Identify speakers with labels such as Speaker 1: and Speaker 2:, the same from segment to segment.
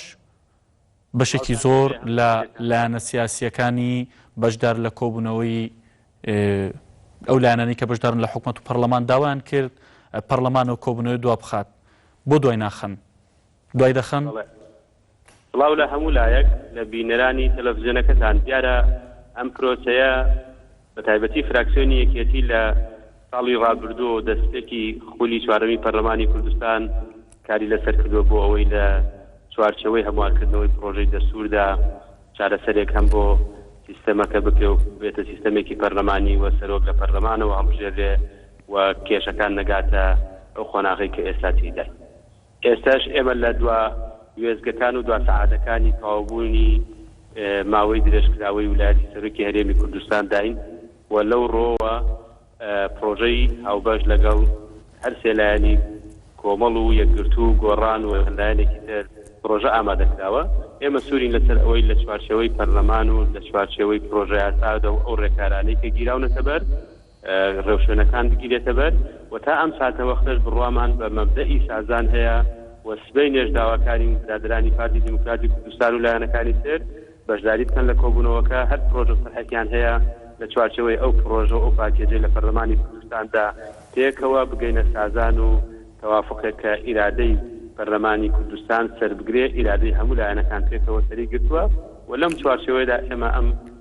Speaker 1: ئەمەش بەشێکی زۆر لە لایەنە سیاسییەکانی بەشدار لە کۆبوونەوەی ئەو لایەنانی کە بەشدارن لە حکومەت و پەرلەمان داوایان کرد پەرلەمان و کۆبوونەوەی دوا بخات بۆ دوای ناخەن دوای دەخەن
Speaker 2: بڵاو لە هەموو لایەک لە بینەرانی تەلەڤزیۆنەکەتان دیارە ئەم پرۆسەیە بەتایبەتی فراکسیۆنی یەکێتی لە ساڵی رابردوو و دەستپێکی خولی چوارەمی پەرلەمانی کوردستان کاری لەسەر کردووە بۆ ئەوەی لە چوارچێوەی هەموارکردنەوەی پڕۆژەی دەستوردا چارەسەرێک هەم بۆ سیستەمەکە بکرێ و ببێتە سیستەمێکی پەرلەمانی و سەرۆک لە پەرلەمانەوە هەڵبژێررێ و کێشەکان نەگاتە ئەو قۆناغەی کە ئێستا تێیداین. ئێستاش ئێمە لە دوا وێستگەکان و دوا سەعاتەکانی تەواوبوونی ماوەی درێژکراوەی ویلایەتی سەرۆکی هەرێمی کوردستانداین و لەو ڕۆوە پڕۆژەی هاوبەش لەگەڵ هەر سێ لایەنی کۆمەڵ و یەکگرتوو و گۆڕان و چەند لایەنێکی تر پڕۆژە ئامادە کراوە. ئێمە سوورین لەسەر ئەوەی لە چوارچێوەی پەرلەمان و لە چوارچێوەی پڕۆژەیاسادا و ئەو ڕێکارانەی کە گیراونەتە بەر، ڕێوشوێنەکان بگیرێتە بەر و تا ئەم ساتەوەختەش بڕوامان بە مەبدەئی سازان هەیە و سبەینێش داواکارین برادەرانی پارتی دیموکراتی کوردستان و لایەنەکانی تر بەشداری بکەن لە کۆبوونەوەکە هەر پڕۆژە سەرحەکیان هەیە لە چوارچێوەی ئەو پڕۆژە و ئەو پاکێجەی لە پەرلەمانی کوردستاندا پێکەوە بگەینە سازان و تەوافقێک کە ئیرادەی پەرلەمانی کوردستان سەربگرێ ئیرادەی هەموو لایەنەکان پێکەوە سەری گرتووە و لەم چوارچێوەیدا ئێمە ئەم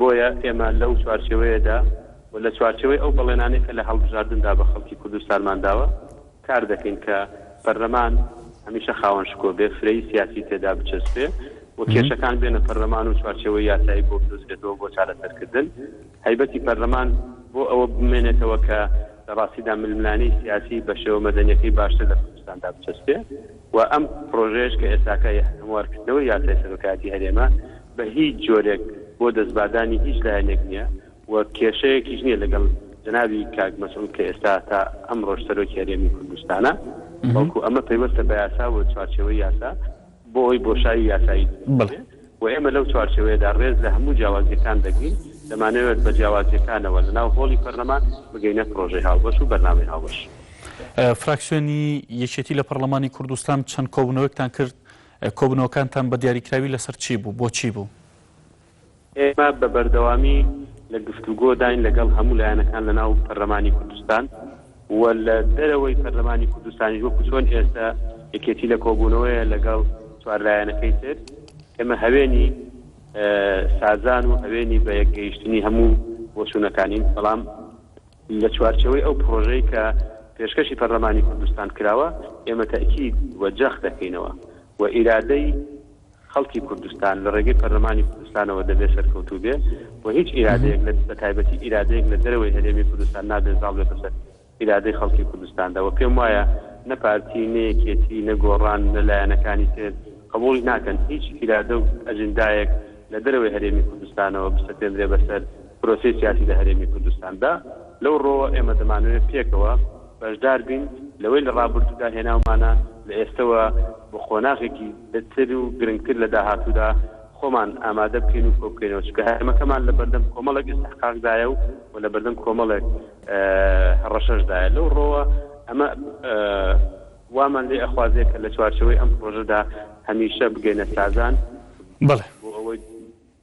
Speaker 2: بۆیە ئێمە لەو چوارچێوەیەدا و لە چوارچێوەی ئەو بەڵێنانەی کە لە هەڵبژاردندا بە خەڵکی کوردستانمان داوە کار دەکەین کە پەرلەمان هەمیشە خاوەن شکۆ بێ، فرەیی سیاسی تێدا بچەسپێ و کێشەکان بێنە پەرلەمان و چوارچێوەی یاسایی بۆ بدۆزرێتەوە بۆ چارەسەرکردن. هەیبەتی پەرلەمان بۆ ئەوە بمێنێتەوە کە لە ڕاستیدا ململانێی سیاسی بە شێوە مەدەنییەکەی باشتر لە کوردستاندا بچەسپێ. و ئەم پڕۆژەیەش کە ئێستاکە هەموارکردنەوەی یاسای سەرۆکایەتی هەرێمە بە هیچ جۆرێک بۆ دەستباردانی هیچ لایەنێک نییە و کێشەیەکیش نییە لەگەڵ جەنابی کاک مەسعود کە ئێستا تا ئەمڕۆش سەرۆکی هەرێمی کوردستانە بەڵکو ئەمە پەیوەستە بە یاسا و چوارچێوەی یاسا بۆ ئەوی بۆشایی یاسایی دروست بکرێت. و ئێمە لەو چوارچێوەیەدا رێز لە هەموو جیاوازییەکان دەگرین، دەمانەوێت بە جیاوازییەکانەوە لەناو هۆڵی پەرلەمان بگەینە پرۆژەی هاوبەش و بەرنامەی هاوبەش. فراکسیۆنی
Speaker 1: یەکێتی لە پەرلەمانی کوردستان چەند کۆبوونەوەکتان کرد، کۆبوونەوەکانتان بە دیاریکراوی لەسەر چی بوو، بۆچی بوو؟ ئێمە
Speaker 2: بە بەردەوامی لە گفتوگۆداین لەگەڵ هەموو لایەنەکان لەناو پەرلەمانی کوردستان، و لە دەرەوەی پەرلەمانی کوردستانیش وەکو چۆن ئێستە یەکێتی لە کۆبوونەوەیە لەگەڵ چوار لایەنەکەی تر، ئێمە هەوێنی سازان و هەوێنی بە یەک گەیشتنی هەموو بۆچوونەکانین، بەڵام لە چوارچێوەی ئەو پڕۆژەی کە پێشکەشی پەرلەمانی کوردستان کراوە ئێمە تەئکید و جەخت دەکەینەوە و ئیرادەی خەڵکی کوردستان لە ڕێگەی پەرلەمانی کوردستانەوە دەبێ سەرکەوتوو بێ و هیچ ئیرادەیەک لە بە تایبەتی ئیرادەیەک لە دەرەوەی هەرێمی کوردستان نابێ زاڵ بێتە سەر ئیرادەی خەڵکی کوردستاندا و پێم وایە نە پارتی نە یەکێتی نە گۆڕان نە لایەنەکانی تر قبوڵی ناکەن هیچ ئیرادە و ئەجندایەک لە دەرەوەی هەرێمی کوردستانەوە بسەپێندرێ بەسەر پرۆسەی سیاسی لە هەرێمی کوردستاندا لەو ڕۆوە ئێمە دەمانەوێ پێکەوە بەشدار بین لەوەی لە ڕابردوودا هێناومانە لە ئێستەوە بە قۆناغێکی تر و گرنگتر لە داهاتوودا خۆمان ئامادە بکەین و کۆبکەینەوە، چونکە هەرێمەکەمان لە بەردەم کۆمەڵێک ئیستحقاقدایە و و لە بەردەم کۆمەڵێک هەڕەشەشدایە، لەو ڕۆوە ئەمە وامان لێ ئەخوازێ کە لە چوارچێوەی ئەم پڕۆژەدا هەمیشە بگەینە سازان بەڵێ. بۆ ئەوەی.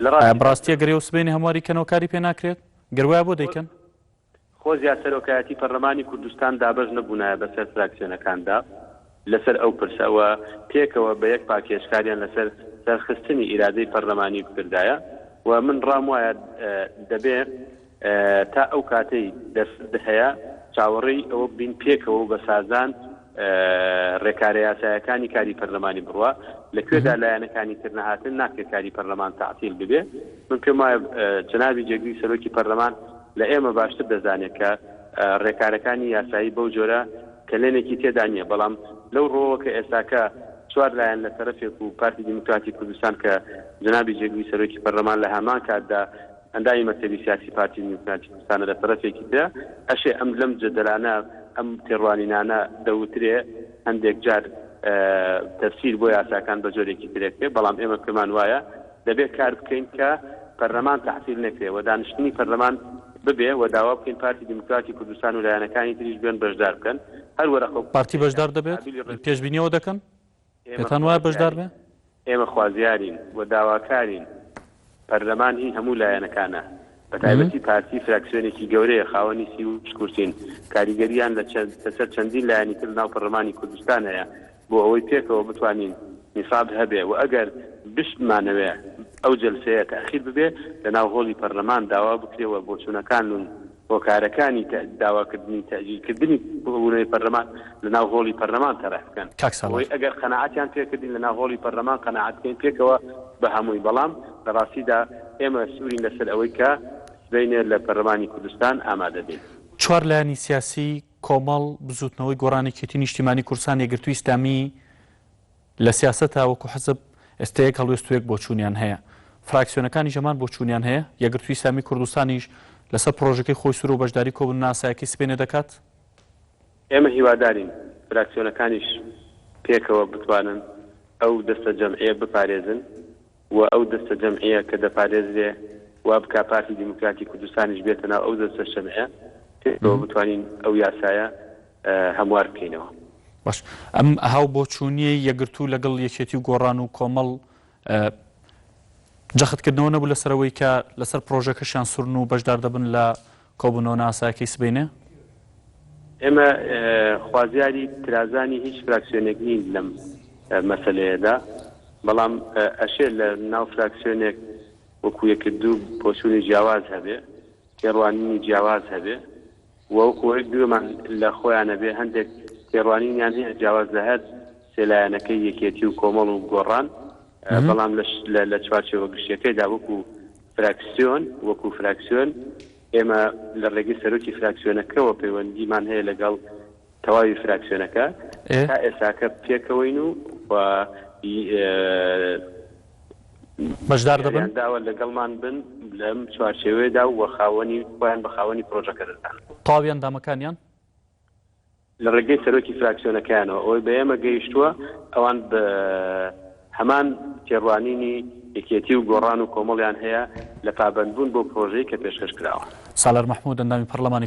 Speaker 1: ئایا بەڕاستی ئەگەر ئێوە سبەینێ هەمواری کەنەوە کاری پێ ناکرێت؟ گەر وایە بۆ دەیکەن؟ خۆزیا
Speaker 2: سەرۆکایەتی پەرلەمانی کوردستان دابەش نەبوونایە بەسەر فراکسیۆنەکاندا لەسەر ئەو پرسە و پێکەوە بە یەک پاکێج کاریان لەسەر سەرخستنی ئیرادەی پەرلەمانی بکردایە و من ڕام وایە دەبێ تا ئەو کاتەی دەرفەت هەیە چاوەڕێی ئەوە بین پێکەوە و بە سازان ڕێکارە یاسایەکانی کاری پەرلەمانی بڕوا لە کوێدا لایەنەکانی تر نەهاتن ناکرێت کاری پەرلەمان تعتیل ببێ من پێم وایە جنابی جێگری سەرۆکی پەرلەمان لە ئێمە باشتر دەزانێت کە ڕێکارەکانی یاسایی بەو جۆرە کەلێنێکی تێدا نییە بەڵام لەو ڕۆوە کە ئێستاکە چوار لایەن لە تەرەفێک و پارتی دیموکراتی کوردستان کە جنابی جێگری سەرۆکی پەرلەمان لە هەمان کاتدا ئەندامی مەکتەبی سیاسی پارتی دیموکراتی کوردستانە لە تەرەفێکی ترە ئەشێ ئەم لەم جەدەلانە ئەم تێڕوانینانە دەوترێ هەندێک جار تەفسیر بۆ یاساکان بە جۆرێکی تر ئەکرێ بەڵام ئێمە پێمان وایە دەبێ کار بکەین کە پەرلەمان تەعتیل نەکرێ و دانیشتنی پەرلەمان ببێ و داوا بکەین پارتی دیموکراتی کوردستان و لایەنەکانی تریش بێن بەشدار بکەن هەر وەرەقە و پارتی بەشدار دەبێت؟
Speaker 1: پێشبینی ئەوە دەکەن؟ پێتان وایە بەشدار بێ؟ ئێمە خوازیارین
Speaker 2: و داواکارین، پەرلەمان هی هەموو لایەنەکانە، بەتایبەتی پارتی فراکسیۆنێکی گەورەیە، خاوەنی سی و شەش کورسین، کاریگەرییان لەسەر چەندین لایەنی تر لەناو پەرلەمانی کوردستان هەیە، بۆ ئەوەی پێکەوە بتوانین نیساب هەبێ و ئەگەر بشتمانەوێ ئەو جەلسەیە تاخیر ببێ لەناو هۆڵی پەرلەمان داوا بکرێ و بۆچوونەکانون هۆکارەکانی داواکردنی تەئجیلکردنی کۆبوونەوەی پەرلەمان لەناو هۆڵی پەرلەمان تەرح بکەن کاک سالار. بۆی ئەگەر قەناعەتیان پێکردین لەناو هۆڵی پەرلەمان قەناعەت بکەین پێکەوە بەهەمووی بەڵام لەڕاستیدا ئێمە سوورین لەسەر ئەوەی کە سبەینێ لە پەرلەمانی کوردستان ئامادە بین. چوار لایەنی
Speaker 1: سیاسی، کۆمەڵ، بزووتنەوەی گۆڕان یەکێتی نیشتیمانی کوردستان یەکگرتووی ئیسلامی لە سیاسەتا وەکو حزب ئێستا یەک هەڵوێست و یەک بۆچوونیان هەیە. فراکسیۆنەکانیش هەمان بۆچوونیان هەیە، یەکگرتووی ئیسلامیی کوردستانیش لەسەر پڕۆژەکەی خۆی سوورە و بەشداریی کۆبوونەوە ئاسایەکەی سبەینێ دەکات. ئێمە
Speaker 2: هیوادارین فراکسیۆنەکانیش پێکەوە بتوانن ئەو دەستەجەمعییە بپارێزن. و ئەو دەستەجەمعیە کە دەپارێزرێ وا بکا پارتی دیموکراتی کوردستانیش بێتە ناو ئەو دەستەشەمعە پێکەوە بتوانین ئەو یاسایە هەموار بکەینەوە. باش
Speaker 1: ئەم هاوبۆچوونیەی یەکگرتوو لەگەڵ یەکێتی و گۆڕان و کۆمەڵ جەختکردنەوە نەبوو لەسەرەوەی کە لەسەر پرۆژەکەشیان سورن و بەشدار دەبن لە کۆبوونەوە نایاسایەکەی سبەینێ؟
Speaker 2: ئێمە خوازیاری ترازانی هیچ فراکسیۆنێک نین لەم مەسەلەیەدا، بەڵام ئەشێ لە ناو فراکسیۆنێک وەکو یەکردوو بۆچوونی جیاواز هەبێ، تێڕوانینی جیاواز هەبێ و وەکو ئەوەی گوێمان لە خۆیان بێ هەندێک تێڕوانینیان هەیە جیاواز لە هەر سێ لایەنەکەی یەکێتی و کۆمەڵ و گۆڕان، بەڵام لە چوارچێوە گشتیەکەیدا وەکو فراکسیۆن، وەکو فراکسیۆن ئێمە لە ڕێگەی سەرۆکی فراکسیۆنەکەوە پەیوەندیمان هەیە لەگەڵ تەواوی فراکسیۆنەکە، تا ئێستاکە پێکەوەین و و
Speaker 1: بەشدار دەبن؟ یان داوا لەگەڵمان بن
Speaker 2: لەم چوارچێوەیەدا و خاوەنی خۆیان بە خاوەنی پرۆژەکە دەزانن. تەواوی ئەندامەکانیان؟ لە ڕێگەی سەرۆکی فراکسیۆنەکەیانەوە ئەوەی بە ئێمە گەیشتووە ئەوان بە هەمان تێڕوانینی یەکێتی و گۆڕان و کۆمەڵیان هەیە
Speaker 1: لە
Speaker 2: پابەندبوون بۆ
Speaker 1: پرۆژەی
Speaker 2: کە پێشکەش کراوە. سالار محمود، ئەندامی پەڕڵەمانی.